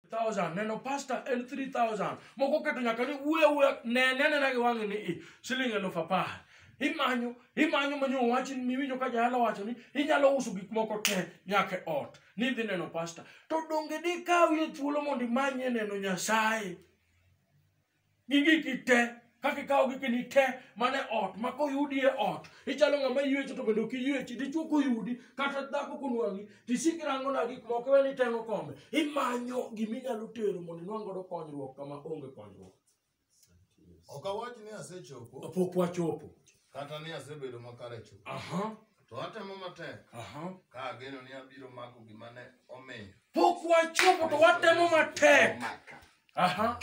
thousand neno pasta en 3000 moko keto nyaka ni wuye wuye nene anena gi wang'i ni i siling eluf apar imanyo imanyo manyo owachi ni miwinjo ka jayalo wacho ni inyalo uso gik moko te nyaka e ot ni idhi neno pasta to donge dikawie thuolo mondo imanye neno nyasaye gi giki te kaka ikawo gikeni te mane ot ma koyudi e ot ichalo ng'ama ywecho to bende ok iywechi dichwo koyudi kata dhako konwang'i tisik irango na gik moko iwe ni iteng'o kombe imanyo gima inyalo tero mondo inwang' godo konyruok kama onge konyruok Ok awach ni asechopo. pok wachopo Kata ni asebedo makare chuth. Aha. To atemo matek. Aha. Ka ageno ni abiro mako gima ne omiyo. Pok wachopo to watemo matek. Aha.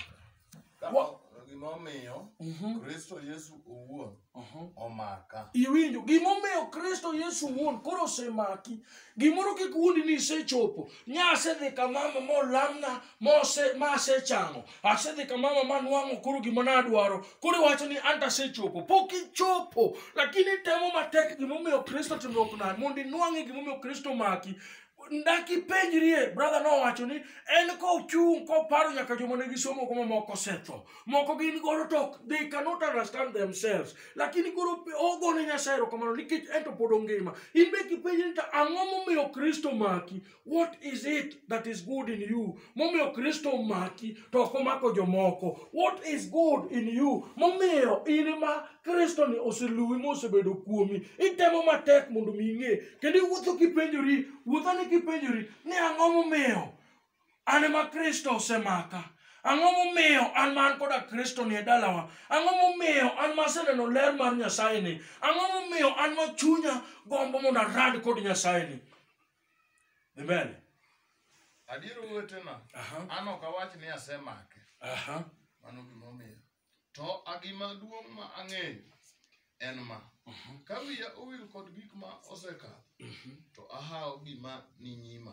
Gima omiyo mhm. Kristo Yesu owuon mhm. omaka. Iwinjo gima omiyo Kristo Yesu owuon koro osemaki. Gimoro kik wuondi ni isechopo. Nya asedhi kamama molamna mose ma asechango asedhi ka mama manwang'o koro gima nadwaro koro iwacho ni anta asechopo pok ichopo lakini itemo matek gimomiyo kristo timruok nade mondo inwang'e gimomiyo kristo maki ndaki penjrie brother nowacho ni en kochung' koparo nyaka joma ne gisomo kuma moko osetho moko gin godo to they cannot understand themselves lakini koro ogone nyasaye erokamano nikech en to pod ongima in be kipenji ni to ang'o momiyo kristo maki What is it that is good in you? Momiyo Kristo omaki to ok omako jomoko. What is good in you? Momiyo in ma Kristo ni oseluwi ma osebedo kuomi. Itemo matek mondo mi ing'e. Kendo iwuotho kipenjori, wuothani kipenjori ni ang'o momiyo an ema Kristo osemaka. Ang'o momiyo an ma an koda Kristo ni e dalawa? Ang'o momiyo an ma aseneno ler mar Nyasaye ni? Ang'o momiyo an ma chunya gombo mondo arad kod Nyasaye ni? dhi mbele Adier owetena, Aha. an ok awach ni asemake. aha Mano gimomiyo. To a gima duong' ma ang'eyo en ma. Ka wiya owil kod gik ma osekadho, to ahawo gima ni nyima.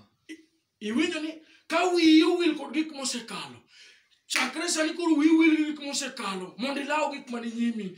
iwinjo ni ka wiyi owil kod gik mosekalo chakre sani koro wiwil gi gik mosekalo mondo ilaw gik mani nyimi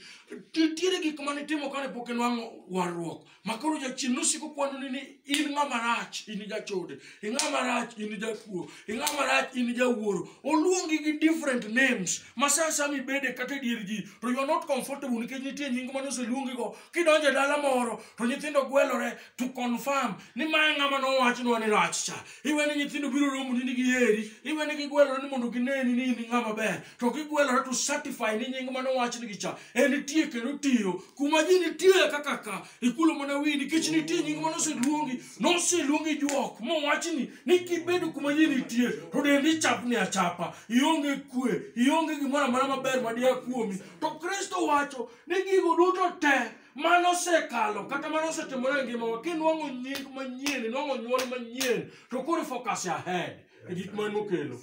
nitiere gik mane timo kane pok inwang'o warruok ma koro jachien nosiko kwanoni ni in ng'ama rach in jachode in ng'ama rach in jakuo in ng'ama rach in jawuoro oluongi gi different names ma sa sa mibede kata e dier ji to you are not comfortable nikech nitie nying mane oseluongigo kidonjo e dala moro to nyithindo gwelore to confirm ni ma e ng'ama nowachnwa ni rach cha iwe ni nyithindo biro romoni ni giheri iwe ni gigwelore ni mondo gineni ni in ng'ama ber to gigwelore to certify ni nying mane owachnigi cha en nitie kendo tiyo kuma ji nitie kaka ka ikulo mana wi nikech nitie nying mane oseluongi noseluongi juok mowachni ni kibedo kuma ji nitie to dendi chapni achapa ionge kwe ionge gimoro amora maber madiya kuomi to kristo wacho ni gigo duto te mano osekalo kata mano osetimore e ngimawa kinwang'o nying manyien inwang'o nyuol manyien to koro focus ahead e gik man mokelo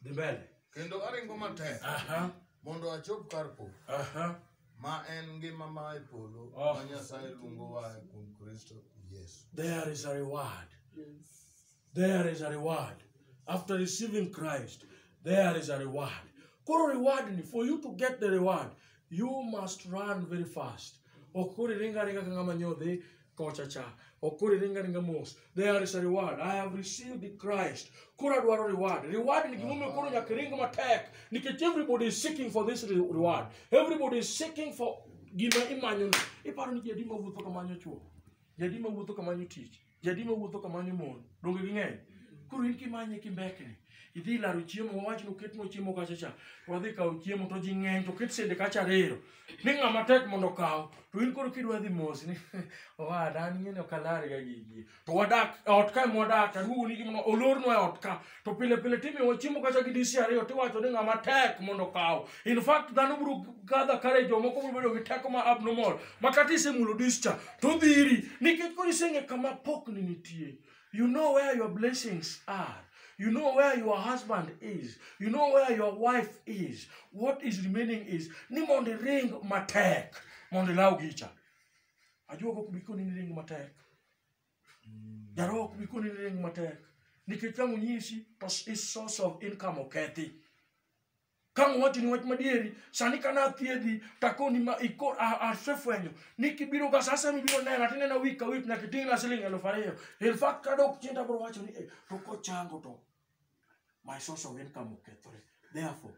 dhi mbele kendo aringo matek aha mondo achop kar po aha ma en ngima ma e polo Oh. ma nyasaye luongowa e kuom kristo yesu there is a reward there is a reward after receiving christ there is a reward koro reward ni for you to get the reward you must run very fast ok koro iringa ringa ka ng'ama nyodhi kocha cha ok koro iringa ringa mos there is a reward i have received the christ koro adwaro reward reward ni gimomiyo koro nyaka iring matek nikech everybody is seeking for this re- reward everybody is seeking for gima imanyo iparo ni jadi mawuotho kamanyo chuo jadi mawuotho kamanyo tich jadi ma wuotho kamanyo mon donge ging'eny koro in kimanye kimbekni idhi laro chiemo wawach noket no chiemo kacha cha to wadhi kawo chiemo to ji ng'eny to ket sende kacha ariyo ni ng'ama tek mondo okaw to in koro kidwa dhi mos ni owada an ing'eni ok alar ga gigi to wadak e ot kae mwadak aduogo ni gimno olornwa e ot ka to pile pile timiwo chiemo kata gi disi ariyo tiwacho ni ng'ama tek mondo okaw in fact dhano biro gather courage jomoko biro bedo gi teko ma abnormal ma kata isemulo dis cha to dhiri nikech koro iseng'e kama pokni nitie you know where your blessings are You know where your husband is. You know where your wife is. What is remaining is ni mondo iring matek mondo ilaw gicha. Ajuogo biko ni ring matek. Jaro ok bi koni ring matek. Nikech ka onyisi to is source of income okethi. Ka wacho ni wach madieri, sani ka na thiedhi to akoni ma iko asefwenyo ni kibiro ga sasa mibiro nena to inena wik ka wik nyaka iting'na siling elfu ariyo. In fact kadok chien to abiro wacho ni eh, to kochango to my source of income okethore. Therefore,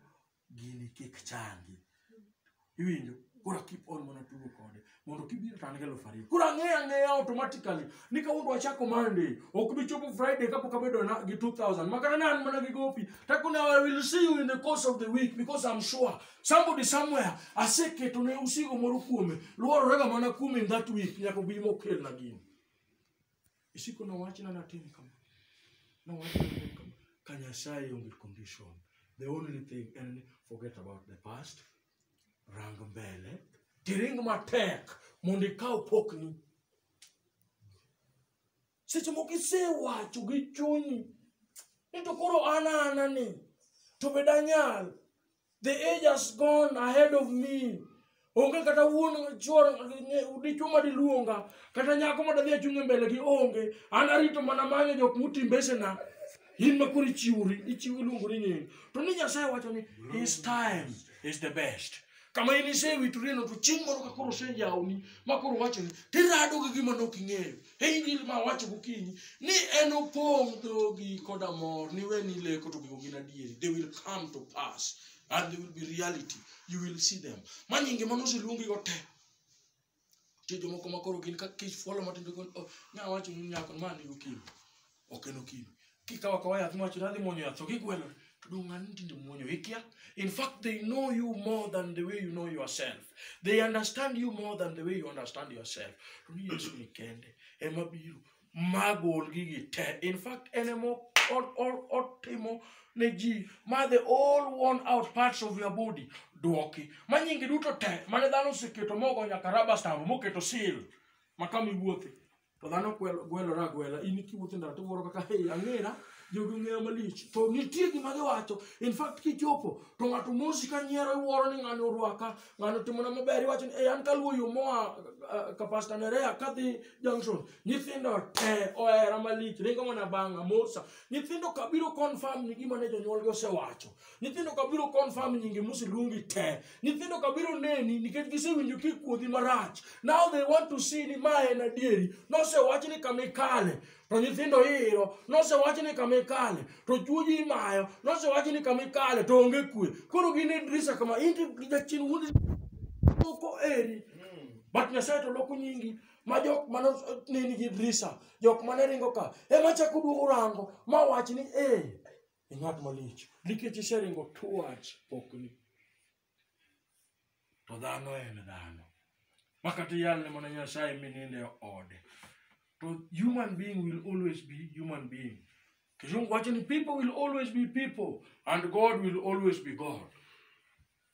gini kik changi iwinjo kura keep on mana tugo kode mondo kibiro to an gi eluf ariyo kura ang'eya ang'eya automatically ni kawuondo achako monday ok bi chopo friday kapok abedo na gi 2000 makata ne an mana gi gopi takone i will see you in the course of the week because i'm sure somebody somewhere aseketo ne usigo moro kuome luororega mana kuome in that week nyaka obi mokelna gini isiko nowachna natim kama nowachna natim kama ka nyasaye onge condition the only thing en ni forget about the past rang mbele tiring matek mondo ikaw pokni seche moko isewacho gi chunyi ni to koro an ana ni to be danyal The age has gone ahead of me. Onge kata wuon chuor dichuo ma diluonga kata nyako ma dadhi achung' e mbele gi onge. An arito mana manyo jok muti mbesena. In ma koro ichiwori, ichiwo iluongori nying. To ni Nyasaye wacho ni his time is the best. Kama in isewitorieno to chieng' moro ka koro oseyawni ma koro wacho ni tirado gi gima ne ok ing'eyo. Angel ma wacho gokinyi ni en opong' dhogi koda mor ni we ni leko to gigo gin adieri they will come to pass and they will be reality you will see them ma nyinge mano oseluongi go te nitie jomoko ma koro gin ka kich fuolo matin to gin oh, nya wacho ni nyako ma ni gokinyi ok en okimi kikawo akawa yath miwacho ni adhi muonyo yath to gigwelore to dong' ng'ani tinde muonyo ikia in fact they know you more than the way you know yourself they understand you more than the way you understand yourself to ni yesu ni kende ema biro magol gigi te in fact en ema o- o- o- otimo ne ji ma the all worn out parts of your body dwoki ma nyingi duto te mane dhano oseketo mogo nyaka raba stambo moketo seal ma kama iwuothe to dhano kwel- gwelore agwela in kiwuotho e ndara to iwuoro kaka hey, ang'era jogi ong'eya malich to nitie gima giwacho in fact kichopo to ng'ato mosi ka nyiero iwuoro ni ng'ani orwaka ng'ani otimona maber iwacho ni hey, an kaluwo yo moa uh, ka pasta nerea kadhi junction nyithindo te ohera malich ringo mana bang'a mosa nyithindo kabiro confirm ni gima ne jonyuolgi osewacho nyithindo ka biro confirm nyingi museluongi te nyithindo ka biro neni nikech gisewinjo kikuodhi marach now they want to see ni ma en adieri nosewach ni kama ikale to nyithindo iro nosewach ni kama ikale to chuoji imayo nosewach ni kama ikale to onge kwe koro gin e drisa kama inti jachin wundi loko eri but nyasaye to loko nyingi ma jok mane neni gi drisa jok mane ringo ka ema chako duogo rango ma wach ni ee e ng'at malich nikech iseringo towards pokni to dhano en dhano ma kata iyalne mana nyasaye mininde ode to human being will always be human being kizungu wacho ni people will always be people and god will always be god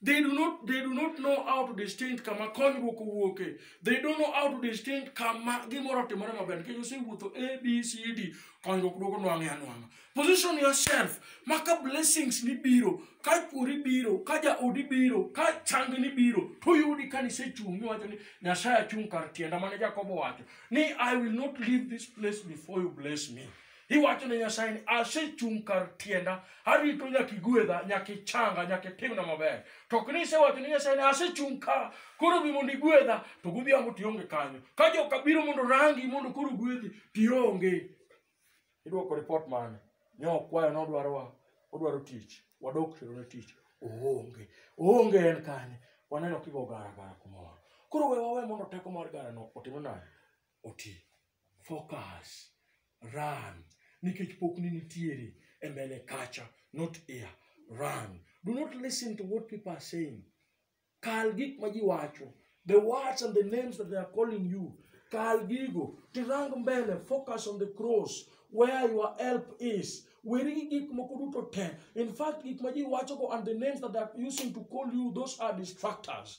They do not they do not know how to distinct kama konyruok owuoke. They don't know how to distinct kama gimoro timore maber. Kendo osewuotho A B C D konyruok duogo nwang'e anwang'a. Position yourself ma ka blessings ni biro, ka chwori biro, ka jaodi biro, ka chang ni biro, to yudi ka nisechung' miwacho ni Nyasaye achung' kar tienda mane Jakobo wacho ni I will not leave this place before you bless me. iwacho ne nyasaye ni asechung' kar tienda arito nyaka igwedha nyaka ichanga nyaka itimna maber to ok ni isewacho ne nyasaye ni asechung' ka koro bi mondo igwedha to godhiambo tionge kanyo ka joka biro mondo rangi mondo koro gwedhi tionge idwoko ripot mane nyokwayo nodwarowa odwaro tich wadok tero ne tich oonge oonge en kanye waneno kigo gara gara kumoro koro we wawe mondo teko mar garano otimre nade oti focus run nikech pok ni nitiere e mbele kacha not here run do not listen to what people are saying kal gik ma ji wacho the words and the names that they are calling you kal gigo tirang mbele focus on the cross where your help is weri gi gik moko duto te in fact gik ma ji wachogo and the names that they are using to call you those are distractors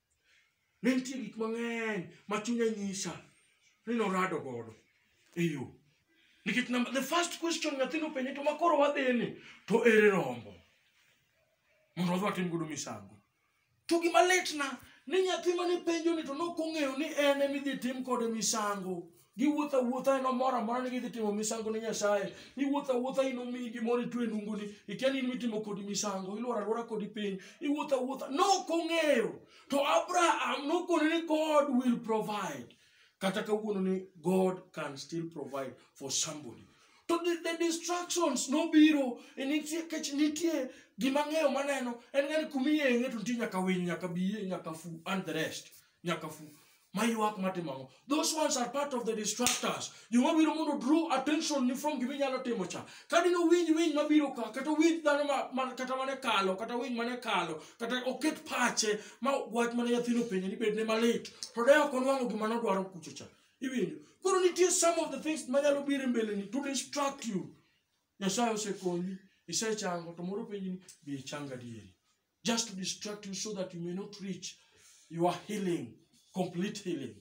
ne nitie gik mang'eny ma chunya nyisa ni norado godo e yo nikech number the first question nyathino penye to makoro wadhini to ere rombo mondo wadhi watim godo misango to gima litna ni nyathi mane penjo ni to nokong'eyo ni en emidhi tim kode misango giwuotho awuotha en omoro amora ni gidhi timo misango ne nyasaye iwuotho awuotha in omiyi gimoro itwe e nunguni ikia ni in mitimo kodi misango ilworo alwora kodi piny iwuotho awuotha nok ong'eyo to abraham nokone ni god will provide kata kawuono ni god can still provide for somebody to the, the distractions nobiro e nitie kech nitie gima ng'eyo maneno en ngani kumiyeng'e to nitie nyaka winy nyaka biye nyaka fu and the rest nyaka fu mayuak matimo ang'o those ones are part of the distractors joma biro mondo draw attention ni from gima inyalo timo cha kadi no winj winj mabiro ka kata winj dhano ma- ma- kata mane kalo kata winj mane kalo kata oket pache ma wach mane nyathino penje ni bedne malit to de ok onwang'o gima nodwaro kucho cha iwinjo koro nitie some of the things manyalo biro e mbeleni to distract you nyasaye osekonyi isechango to moro penji ni be ichanga dieri just to distract you so that you may not reach your healing, complete healing.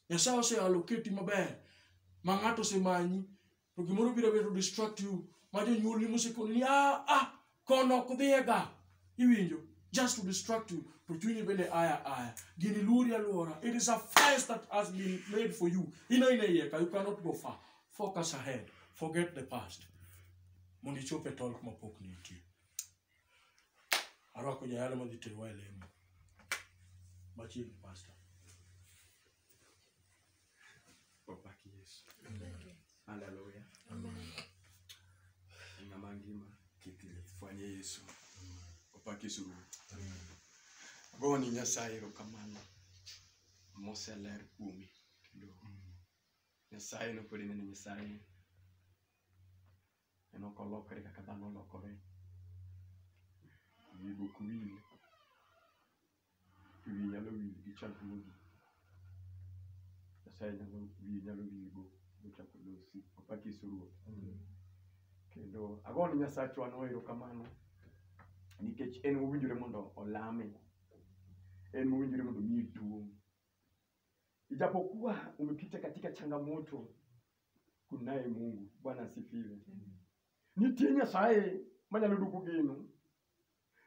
Nyasaye ose allocate maber ma ng'ato osemanyi to gimoro biro bedo distract you ma jonyuolni mosekoni ni ah ah kono ok dhiyega iwinjo just to distract you to chunyi bende aya aya gini luori aluora it is a fence that has been made for you ino ine iye ka you cannot go far focus ahead forget the past mondo ichop e tolk mapok nitie Arwako jayalo madhi terowa e lemo machiegni pasta. Opak Yesu. Haleluya. Ng'ama ngima kik lieth fwanye Yesu. Opak Yesu Ruoth. Agoyo ni Nyasaye erokamano moseler kuome kendo Nyasaye nopod ineno Nyasaye en ok olokre kaka dhano olokore. Wiye be ok wil, to wiye nyalo wil gi chandruogi. Nyasaye nyalo wiye nyalo wil go mochako losi. Papa Kisu Ruoth. Kendo ago ni Nyasachwa no erokamano nikech en owinjore mondo olame. En owinjore mondo omiye duong'. Ijapokuwa umepita katika changamoto, kunaye Mungu. Bwana asifiwe. Nitie Nyasaye manyalo duogo geno.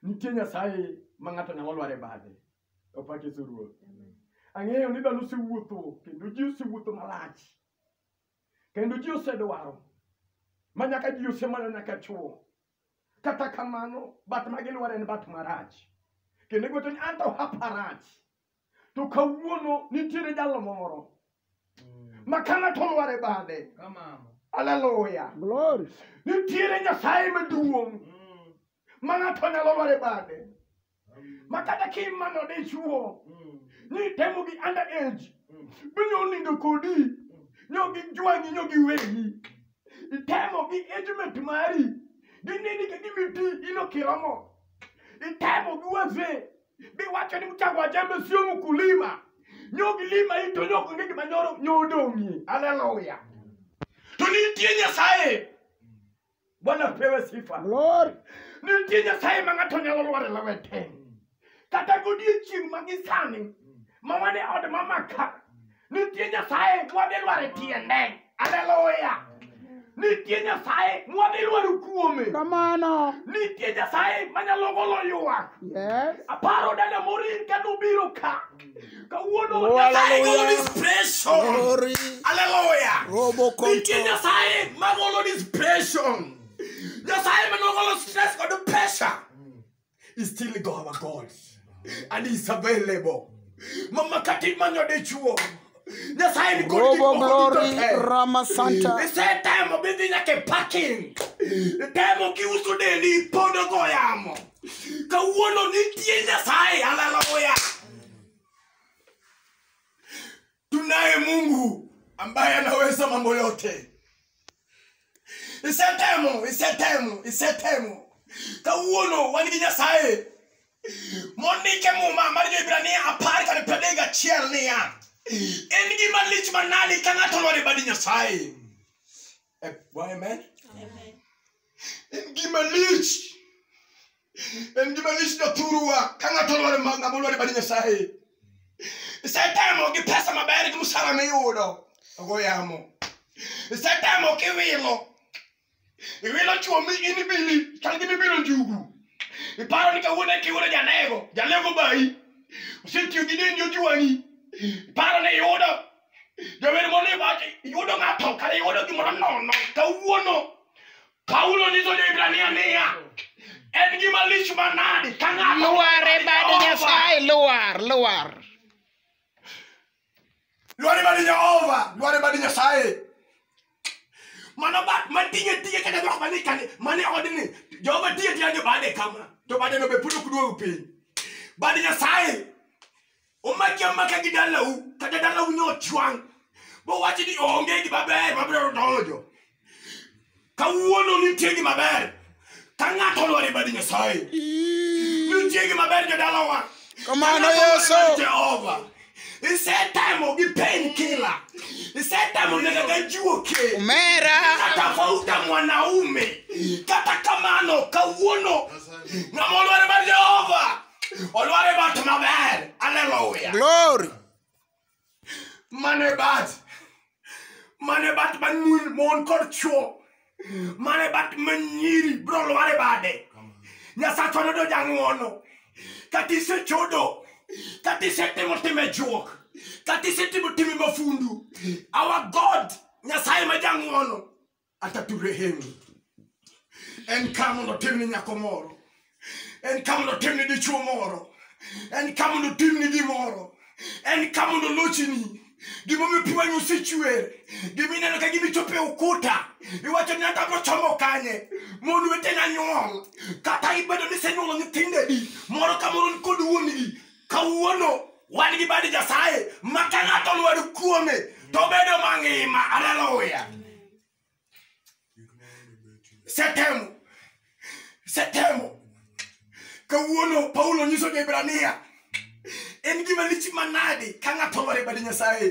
Nitie Nyasaye ma ng'ato nyalo lware bade. Opak Yesu Ruoth. Ang'eyo ni dhano osewuotho kendo ji osewuotho malach. Kendo ji osedwaro ma nyaka ji osemana nyaka chuo. Kata kamano, bat ma gilwar en bat marach. Kendo igoto ni anto hapa rach. to kawuono nitiere jalo moro ma ka ng'ato olware bade aleluya nitiere nyasaye maduong' ma ng'ato nyalo lware bade ma kata kimano dichuo ni temo gi under age binyo onindo kodi nyo gi jwangi nyo gi wegi itemo gi agement mari ginini ka gimiti ino kiromo itemo gi wazee biwacho ni mchango wa jembe sio mkulima nyo gilima ito nyo onge gima nyoro nyo odong'ie haleluya to nitie nyasaye bwana pewe sifa Glory. nitie nyasaye ma ng'ato nyalo lware lawete kata godiechieng' ma gisani ma wane od mamaka nitie nyasaye mwadhi lwar e tiende aleluya nitie nyasaye mwadhi lwar kuome Kamano. nitie nyasaye manyalo golo ywak Yes. aparo dada morin ka nobiro ka kawuono Oh, nyasaye golo hallelujah. dispration Glory. aleluya Robo nitie konto. nyasaye magolo dispration nyasaye manogolo stress kod pressure is still our God. And he's available. Mama kati manyo de chuo. Nyasaye ni kodi Robo kiko Glory kodi tote. Rama Santa. He said time of building like a parking. The time of kiusu de ni podo goyamo. Kawuono nitie Nyasaye hallelujah. tunaye mungu ambaye anaweza mambo yote isetemo isetemo isetemo kawuono wan gi nyasaye mondike muma mar jo-hibrania apar kod piero adek gachiel niya en gima lich manadi ka ng'ato olwar e bad nyasaye Eh, wa amen Amen. en gima lich en gima lich jathuruwa ka ng'ato olwar ma- ng'ama olwar e bad nyasaye isetemo gi pesa maber gi msara miyudo ogo yamo isetemo kiwilo iwilo chuo mi in ibili chal gi mibilo njugu iparo ni kawuono kiwuono janego janego bayi osetiyo gi deni ojuwani iparo ni iyudo jawer mondo iwacho iyudo ng'ato kata iyudo gimoro nono kawuono paulo nyiso jo-hibrania niya en gima lich manadi ka ng'ato Luar e bad Jehova. Nyasaye, luar, luar. lwar e bad jehova lwar e bad nyasaye mano bat matinye tiye kata jok mane kane mane odni jehova tiye tiya jo bade kama to bade no be pod ok duog piny bad nyasaye omaki amaka gi dalau kata dalau ne ochwang' bowachi ni onge gi maber mabiro donjo kawuono nitie gi maber ka ng'ato olwar e badi nyasaye nitie gi maber jodalawa Kamano, Yesu. jehova isetemo gi pen kila isetemo nega ga jiwo ke Omera. kata fauta mwanaume kata kamano kawuono ng'ama olwar e badi jehova Olwar e bat maber. Hallelujah. Glory. Mane bat. Mane bat man mun mon kod chuo. Mane bat man nyiri bro lwar e bade. Nyasacho nodo jang'wono. Kati se chodo. Kati se timo time juok. Kati se timo time mafundu. Our God. Nyasaye ma jang'wono. ataturehemu. En ka mondo otim ni nyako moro, en ka mondo otim ni dichuo moro, en ka mondo otim ni gimoro, en ka mondo olochini. Gimomiyo pi wang'i osechwer, gima ineno ka gima ichopo e ukuta, iwacho ni ata mochomo kanye, mon wetena nyuol, kata ibedo ni isenyuolo nyithindo adi, moro ka moro ni kod wuon-gi, kawuono wan gi bad nyasaye ma ka ng'ato lwar kuome to bedo mangima aleluya setemo setemo kawuono paulo nyiso jo-hibrania en gima lich manadi ka ng'ato lwar e bad nyasaye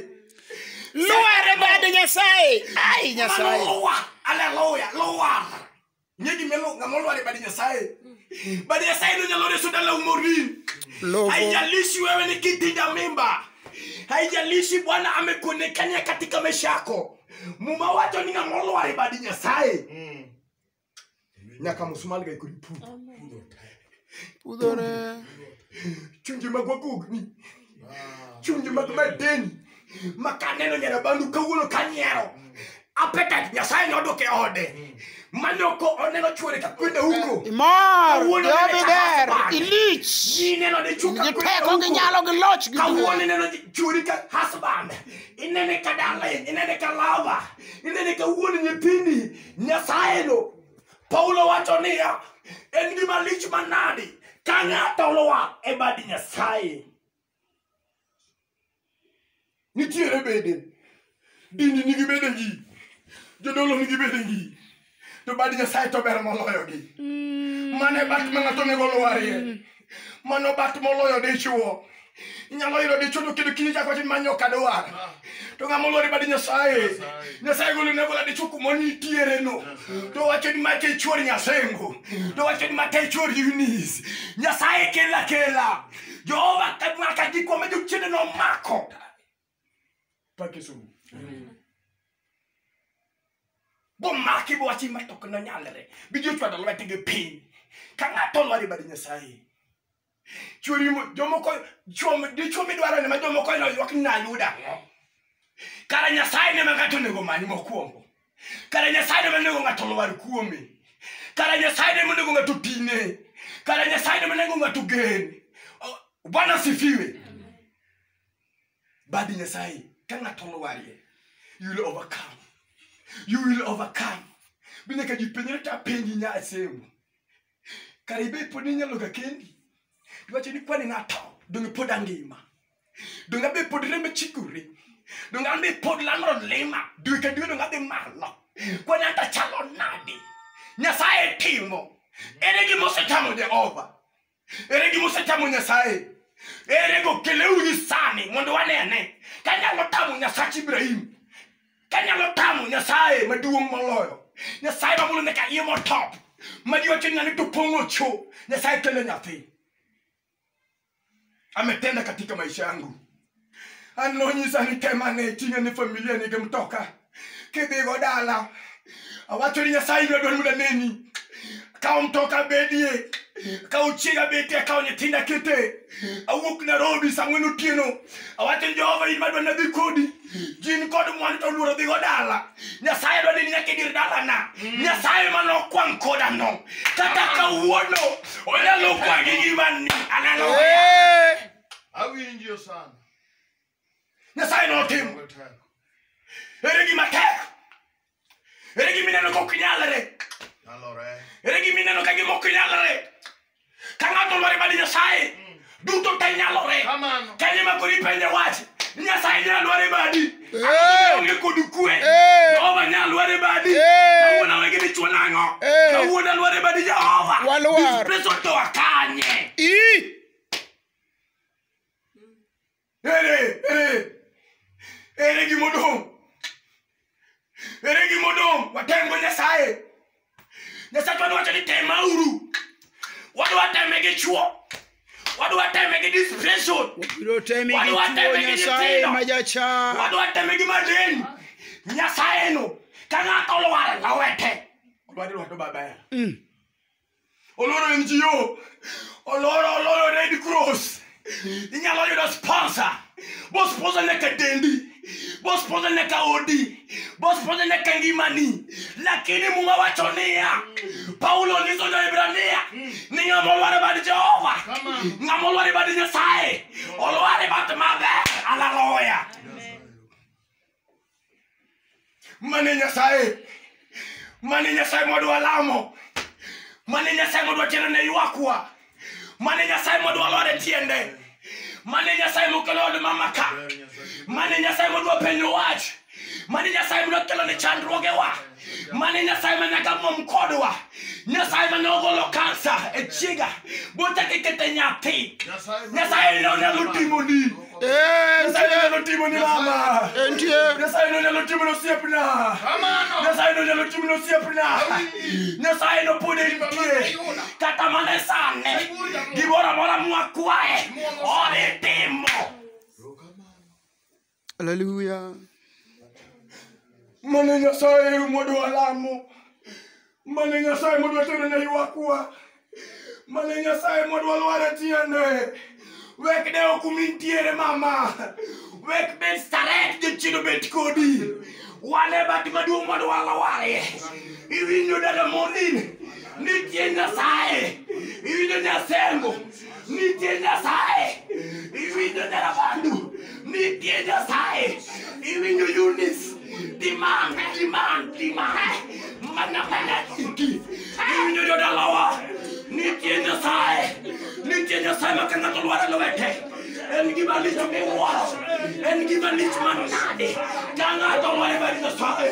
lwar e bad nyasaye ai nyasaye luwa aleluya luwa Ng'e gima elo- ng'ama olwar e bad Nyasaye. Bad Nyasaye no nyalo reso dala umori. Logo. Haijalishi wewe ni kiti cha mimba. Haijalishi Bwana amekuonekania katika maisha yako. Muma wacho ni ng'ama olwar e bad Nyasaye. Nyaka musmal ga ikuri pu. Amen. Pudore. chunje mag wagogni chunje mag madeni ma kaneno nyarabandu kawuono kanyiero apetat nyasaye nodwoke ode manoko oneno chwore ka kwenda huko Imor, Kawuono nene jobi der, chakasbar. ilich. ineno ne chuka Gi kwenda teko gi huko nyalo gi loch gi kawuono duong'. ineno chwori ka husband inene ka darling inene ka lava inene ka wuon nyithindi nyasaye no paulo wacho niya en gima lich manadi ka ng'ato olwar e bad nyasaye nitiere bende dini nigi bede gi jodolo nigi bede gi to bad nyasaye to ber moloyogi mane bat ma ng'ato onego olwarie mano bat moloyo dichuo inyalo yudo dichuo to kendo kinde chako manyo kadwar to ng'ama olori badi nyasaye nyasaye golo ne gola dichuo kuma nitiere no to wacho ni mate chuor nyasengo to wacho ni mate chuor yunis nyasaye kela kela jehova kadwaka gikwa ma jochiende nomako barke sunu bo maki bo wachi ma tok na nyalre bi jo chwado lwa tege pin ka ngato lwa bari nyasaye churi mo jomo ko jomo di chumi dwaro ne ma jomo ko no yok na yuda kara nyasaye ne ma ngato ne go mani mokwongo kara nyasaye ne ma ne go ngato lwa kuome kara nyasaye ne ma ne go ngato tine kara nyasaye ne ma ne go ngato gen bwana sifiwe bad nyasaye ka ng'ato olwarie you will overcome you will overcome bende ka jipenjore to apenji nya asembo kare ibed pod inyalo ga kendi iwacho ni kwani ng'ato donge pod angima donge abe pod rembe chikore donge an be pod landro lima dwe ka dwe donge adhi malo kwani anta chalo nadi nyasaye timo ere gima osetamo jehova ere gima osechamo nyasaye ere go keleuru sani mondo wanene kanyalo tamo nyasach ibrahim kanyalo tamo nyasaye maduong' moloyo nyasaye mamulo nyaka iye motop madiwacho nani to pong'o cho nyasaye kele nyathi ametenda katika maisha yangu an nonyisa ni tem ane ting'e ni familia nigi mtoka kidhigo dala awacho ni nyasaye ibiro dwani mondo aneni kawo mtoka bedie kawo chiega betie kawo nyithinda kete awuok nairobi saa ng'wen otieno awacho ni jehova in madwa nadhi kodi gin kod mwandu to luoro dhigo dala nyasaye dwa nini nyaka idir dalana nyasaye ma nokwang' kodano kata kawuono onyalo kwangi gimani analo Awinjo sana. nyasaye notimo Onge teko. ere gima tek ere gima ineno kok nyalre Nyalore. ere gima ineno ka gima ok nyalre ka ng'ato lware badi nyasaye duto te nyalore Kamano. kanye ma kori penje wach nyasaye nyalo lware badi Hey! onge kod kwe Hey! jehova nyalo lware badi Hey! kawuono wegi dichwo nang'o Hey! kawuono lware badi jehova Waluar. This place otoa kanye Ii! Ere, ere, ere gima odong'. Ere gima odong'. Watemgo Nyasaye. Nyasaye to wacho ni temauru. Wadwa teme gi chuo. Wadwa teme gi distraction. Biro temi gi Wadwa chuo teme gi Nyasaye nyithindo. ma jachan. Wadwa teme gi madeni. Nyasaye no. Ka ng'ato olwar lawete. Olwar lwedo babae. Mm. oloro ngo oloro oloro red cross inyalo yudo sponsor bo sponsor nyaka dendi bo sponsor nyaka odi bo sponsor nyaka ngimani lakini muma wacho niya paulo nyiso joibrania ni ng'ama olwar e bad jehova ng'ama olwar e bad nyasaye olwar e bat maber alaloya mane nyasaye mane nyasaye modwa lamo mane nyasaye modwa tero ne ywakwa mane nyasaye modwa lore tiende mane nyasaye mokelo od mamaka mane nyasaye modwa penyo wach mane nyasaye modwa kelo ne chandruogewa mane nyasaye ma nyaka mom kodwa nyasaye mane ogolo kansa e chiega bochak ikete nyathi nyasaye ne onyalo timoni Eh, nyasaye ne onyalo timoni mama entie nyasaye ne onyalo timoni osiepna nyasaye ne onyalo timoni osiepna nyasaye ne pod entie kata mana e sane gimoro amora mwakwaye odhi timo Hallelujah. Mane Nyasaye modwa lamo. Mane Nyasaye modwa tero ne ywakwa. Mane Nyasaye modwa lware tiende. Wek ne ok umi ntiere mama. Wek bed staret jochido bet kodi. Wane bat maduong' modwa lware. Iwinjo dada Monin. Nitie Nyasaye. Iwinjo Nyasengo. nitie nyasaye iwinjo nyarabandu nitie nyasaye iwinjo unis dimang dimang dimang mana mana iki iwinjo jodalawa nitie nyasaye nitie nyasaye ma ka ng'ato lware lwete en gima lich miwuoro en gima lich manade ka ng'ato lware bari nyasaye